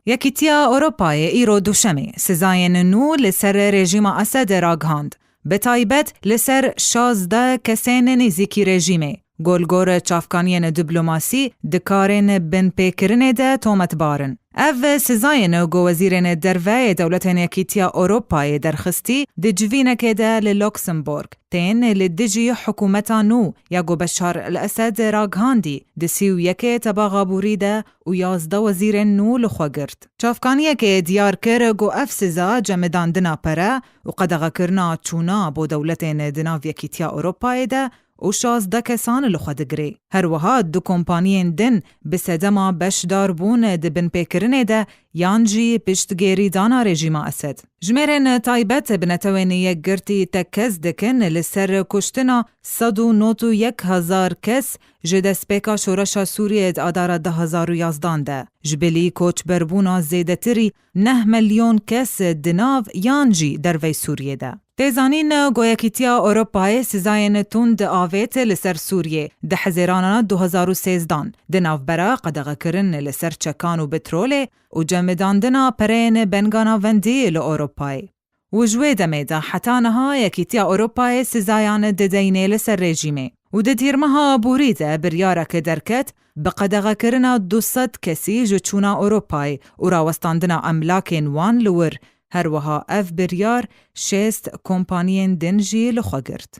Yekîtiya Ewropayê îro Duşemê sizayên nû li ser rejîma Esedê ragihand, bi taybet li ser şazdeh kesên nêzîkî rejîmê ku li gor çavkaniyên diplomasî di karên binpêkirinê de tometbar in. Ev sizayên ku wezîrên derve yê dewletên Yekîtiya Ewropayê derxistî di civînekê de li Luxembourg, tên li dijî hikûmeta nû ya ku Beşar el-Esed ragihandî di sî û yekê tebax a borî de û yazdeh wezîrên nû li xwe girt. Çavkaniyekê diyar kir ku ev siza cemidandina pere û qedexekirina çûna bo dewletên di nav Yekîtiya Ewropayê de û şazdeh kesan li xwe digirê. Her wiha du kompaniyên din bi sedema beşdarbûn di binpêkirinê de yan jî piştgêrîdana rejîma Esed. Jimêrên taybet bi Netewên Yekgirtî tekkez dikin li ser kuştina sed û nod û yek hezar kes ji destpêka şoreşa Sûriyeyê di adara du hezar û yazdan de. Ji bilî koçberbûna zêdetirî neh milyon kes di nav yan jî dervey Sûriyê de. Tê zanîn ku Yekîtiya Ewropayê sîzayên tund avêt li ser Sûriyê di hezêrana du hezar û sêzdan, di navbera qedexekirin li ser çekan û petrolê û cemidandina pereyên benga navendî li Ewropayê. Û ji wê demê de heta niha Yekîtiya Ewropayê sîzayan dideyne li ser rejîmê. Û di dîrmeha aborî de biryarek derket Bi qedexekirina du sed kesî ji çûna Ewropayê û rawestandina emlakên wan li wir, her wiha ev biryar şêst kompaniyên din jî li xwe girt.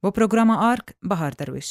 Bo programa ark, Bahar Derwîş.